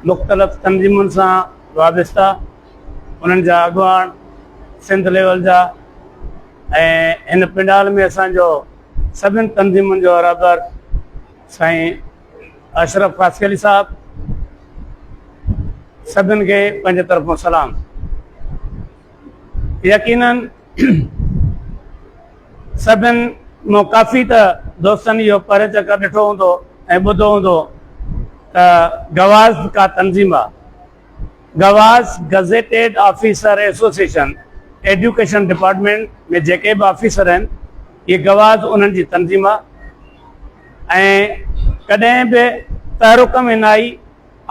مختلف تنظيمن سان وابسته انهن جا اڳواڻ سنڌ ليول جا ۽ هن پنڊال ۾ اسانجو سڀن تنظيمن جو رهبر سائين اشرف فاسي علي صاحب سڀن کي پنهنجي طرفون سلام يقينن سڀن مان ڪافي ته دوستن اهو پهرين چڪر ڏٺو هوندو ۽ ٻڌو هوندو ته گواز ڪا تنظيم آ گواز gazetted officer association education department ۾ جيڪي به آفيسر آهن اهي گواز انهن جي تنظيم آ ۽ ڪڏهن به تحرڪ ۾ نه آئي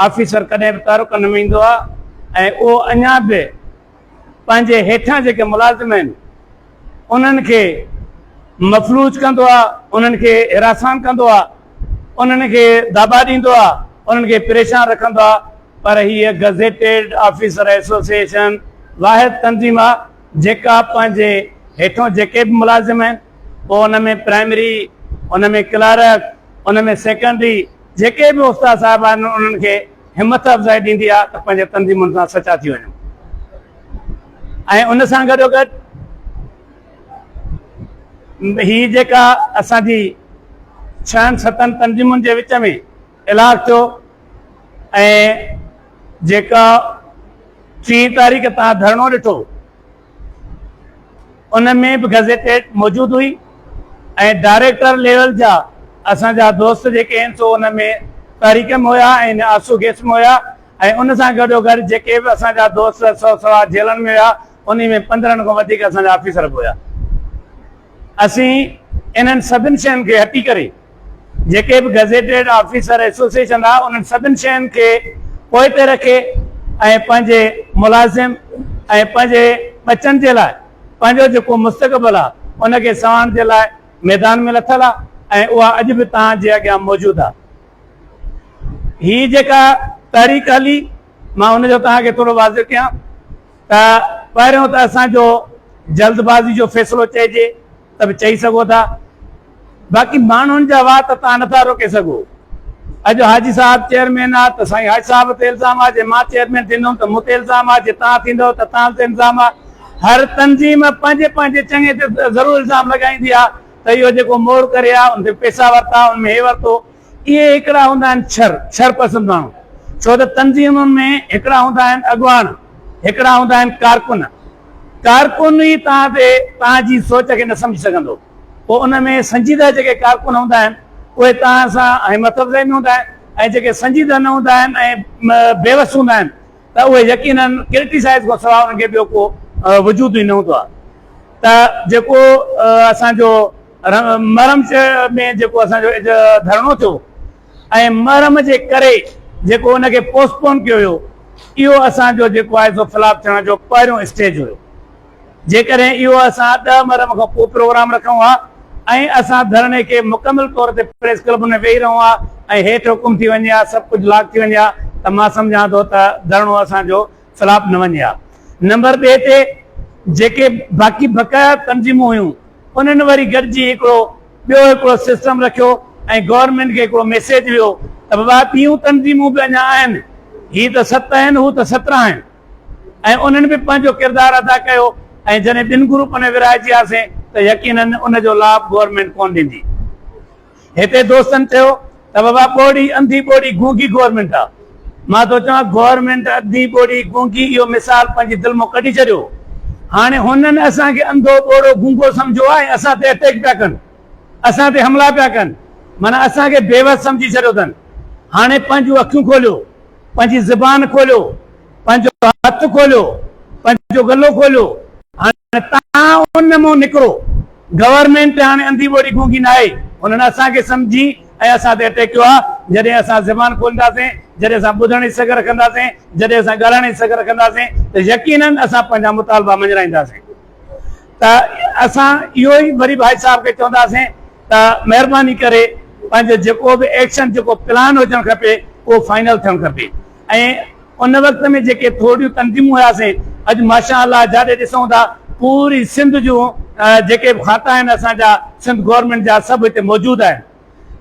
آفيسر ڪڏهن به تحرڪ ۾ ايندو آ ۽ اهو اڃا به پنهنجي هيٺان جيڪي ملازم آهن انهن کي مفلوج ڪندو آهي انهن کي هراسان ڪندو آهي انهن کي دبا ڏيندو آهي انهن کي پريشان رکندو آهي پر هيء گزيٽيڊ آفيسر ايسوسيئيشن واحد تنظيم آهي جيڪا پنهنجي هيٺون جيڪي به ملازم آهن پوء ان ۾ پرائمري ان ۾ ڪلارڪ ان ۾ سيڪنڊري جيڪي به استاد صاحب آهن انهن کي همٿ افزائي ڏيندي آهي ته پنهنجي تنظيمن سان سچا ٿي وڃن ۽ ان سان گڏو گڏ هي جيڪا اسان جي ڇهن ستن تنظيمن جي وچ ۾ الاگ ٿيو ۽ جيڪا ٽي تاريخ تان ڌرڻو ڏٺو ان ۾ به گزيٽيڊ موجود هئي ۽ ڊائريڪٽر ليول جا اسان جا دوست جيڪي آهن سو ان ۾ تحريڪم هيا ۽ آسو گيسم هيا ۽ ان سان گڏو گڏ جيڪي به اسان جا دوست سو سوا جيلن ۾ هيا انهي ۾ پندرهن کان وڌيڪ اسان جا آفيسر به هيا اسين انهن سڀن شين کي هٽي ڪري جيڪي به گزيٽيڊ آفيسر ايسوسيئيشن آ انهن سڀن شين کي پوئتي رکي ۽ پنهنجي ملازم ۽ پنهنجي ٻچن جي لاء پنهنجو جيڪو مستقبل آ ان کي سنوارڻ جي لاء ميدان ۾ لٿل آ ۽ اها اڄ به توهان جي اڳيان موجود آ. هي جيڪا تحريڪ هلي مان ان جو توهان کي ٿورو واضح ڪيان ته پهريون ته اسان جو جلد بازي جو فيصلو چئجي ته به چئي سگهو ٿا باقي ماڻهن جا وات تان نه ٿا روڪي سگهو. اڄ حاجي صاحب چيئرمين آ ته سائين حاجي صاحب تي الزام آ جي مان چيئرمين ٿيندم ته مون تي الزام آ جي تان ٿيندو ته تان تي الزام آ هر تنظيم پنهنجي پنهنجي چڱي تي ضرور الزام لڳائيندي آ ته اهو جيڪو موڙ ڪري آ ان تي پيسا ورتا ان ۾ هي ورتو اهي هڪڙا هوندا آهن ڇر، ڇر پسند ماڻهو، ڇو ته تنظيمن ۾ هڪڙا هوندا آهن اڳواڻ، هڪڙا هوندا آهن ڪارڪن. ڪارڪن ئي توهان تي توهان جي سوچ کي نه سمجهي سگهندو. پوء ان ۾ سنجيده جيڪي ڪارڪن هوندا آهن، اهي توهان سان ۽ متضاد ۾ هوندا آهن ۽ جيڪي سنجيده نه هوندا آهن ۽ بيوس هوندا آهن ته اهي يقيناً ڪرٽيسائيز کان سواء انهن کي ٻيو ڪو وجود ئي نه هوندو آهي ته جيڪو اسان جو محرم ۾ جيڪو اسان جو اڄ ڌرڻو ٿيو ۽ محرم جي ڪري جيڪو ان کي پوسٽ پون ڪيو ويو اهو اسان جو جيڪو آهي سو فلاپ ٿيڻ جو پهريون اسٽيج هيو جيڪڏهن اهو اسان ڏهه محرم کان پوء پروگرام رکون ها ۽ اسان ڌرڻي کي مڪمل طور تي پريس ڪلب ۾ ويهي رهون ها ۽ هيٺ حڪم ٿي وڃي ها سڀ ڪجهه لاڪ ٿي وڃي ها ته مان سمجهان ٿو ته ڌرڻو اسان جو خلاف نه وڃي ها. نمبر ٻئي تي جيڪي باقي بقايا تنظيمون هيون انهن وري گڏجي هڪڙو ٻيو هڪڙو سسٽم رکيو ۽ گورنمينٽ کي هڪڙو ميسيج ويو ته بابا ٻيون تنظيمون به اڃا آهن هي ته ست آهن هو ته سترهن آهن ۽ انهن به پنهنجو ڪردار ادا ڪيو ۽ جڏهن ٻن گروپن ۾ ورهائجي هاسين ته يقينن ان جو لاڀ گورنمينٽ ڪونه ڏيندي. هتي دوستن چيو ته بابا ٻوڙي انڌي ٻوڙي گونگي گورنمينٽ آ مان ٿو چوان گورنمينٽ انڌي ٻوڙي گونگي اهو مثال پنهنجي دل مون ڪڍي ڇڏيو هاڻي هنن اسان کي انڌو ٻوڙو گونگو سمجهيو آ ۽ اسان تي اٽيڪ پيا ڪن اسان تي حملا پيا ڪن معنيٰ اسان کي بيوس سمجهي ڇڏيو اٿن هاڻي پنهنجون اکيون کوليو پنهنجي زبان کوليو پنهنجو هٿ کوليو پنهنجو ڳلو کوليو هاڻي ته تان ان مون نڪرو. گورنمينٽ هاڻي انڌي ٻوڙي گونگي ناهي. هنن اسان کي سمجهي ۽ اسان تي اٽيڪ ڪيو آهي. جڏهن اسان زبان کولنداسين، جڏهن اسان ٻڌڻ جي سگهه رکنداسين، جڏهن اسان ڳالهائڻ جي سگهه رکنداسين ته يقينن اسان پنهنجا مطالبا مڃرائينداسين ته اسان اهو ئي وري ڀائي صاحب کي چونداسين ته مهرباني ڪري پنهنجو جيڪو به ايڪشن جيڪو پلان هجڻ کپي اهو فائنل ٿيڻ کپي. ۽ ان وقت ۾ جيڪي ٿورڙيون تنظيمون هياسين اڄ ماشاء الله جاڏي ڏسون ٿا پوري سنڌ جون جيڪي به کاتا آهن اسان جا سنڌ گورنمينٽ جا سڀ هتي موجود آهن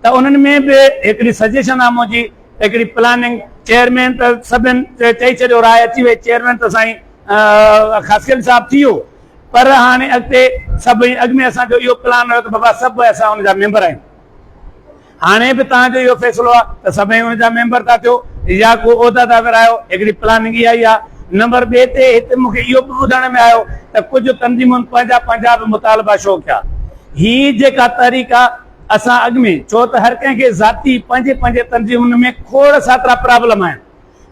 ته انهن ۾ به هڪڙي سجيشن آهي منهنجي هڪڙي پلاننگ چيئرمين ته سڀن چئي ڇڏيو راء اچي وئي چيئرمين ته سائين خاصخيل صاحب ٿي ويو پر هاڻي اڳتي سڀ اڳ ۾ اسان جو اهو پلان هيو ته بابا سڀ اسان ان جا ميمبر آهيون هاڻي به توهان جو اهو فيصلو آهي ته سڀئي ان جا ميمبر ٿا ٿيو يا ڪو عهدا ٿا ورهايو، هڪڙي پلاننگ اها ئي آهي. نمبر ٻئي تي هتي مون کي اهو به ٻڌڻ ۾ آيو ته ڪجهه تنظيمن پنهنجا پنهنجا به مطالبا شو ڪيا. هي جيڪا تحريڪ آهي اسان اڳ ۾ ڇو ته هر ڪنهن کي ذاتي پنهنجي پنهنجي تنظيمن ۾ کوڙ ساترا پرابلم آهن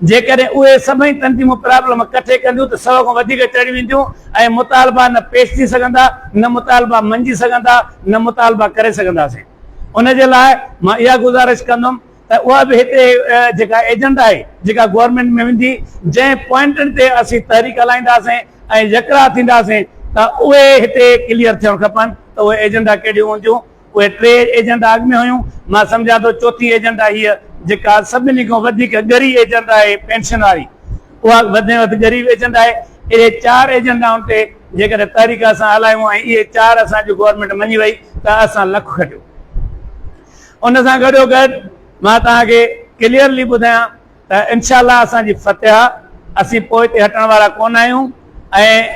جيڪڏهن اهي سڀئي تنظيمون پرابلم ڪٺي ڪنديون ته سؤ کان وڌيڪ چڙهي وينديون ۽ مطالبا نه پيش ٿي سگهندا، نه مطالبا مڃي سگهندا، نه مطالبا ڪري سگهنداسين. ان جي لاء مان اها گذارش ڪندم ته اها به هتي جيڪا ايجنڊا آهي، جيڪا گورنمينٽ ۾ ويندي، جنهن پوائنٽن تي اسين تحريڪ هلائينداسين ۽ يڪراء ٿينداسين ته اهي هتي ڪليئر ٿيڻ کپن ته اهي ايجنڊا ڪهڙيون هونديون، اهي ٽي ايجنٽا اڳ ۾ هيون، مان سمجهان ٿو چوٿين ايجنٽا هيء جيڪا سڀني کان وڌيڪ ڳري ايجنٽا آهي پينشن واري. اها وڌ ۾ وڌ غريب ايجنٽا آهي. اهي چار ايجنٽائن تي جيڪڏهن تحريڪ اسان هلايون ۽ اهي چار اسان جي گورنمينٽ مڃي وئي ته اسان لک کٽيو. ان سان گڏو گڏ مان توهان کي ڪليئرلي ٻڌايان ته انشاء الله اسان جي فتح آ. اسين پوئتي هٽڻ وارا ڪونه آهيون ۽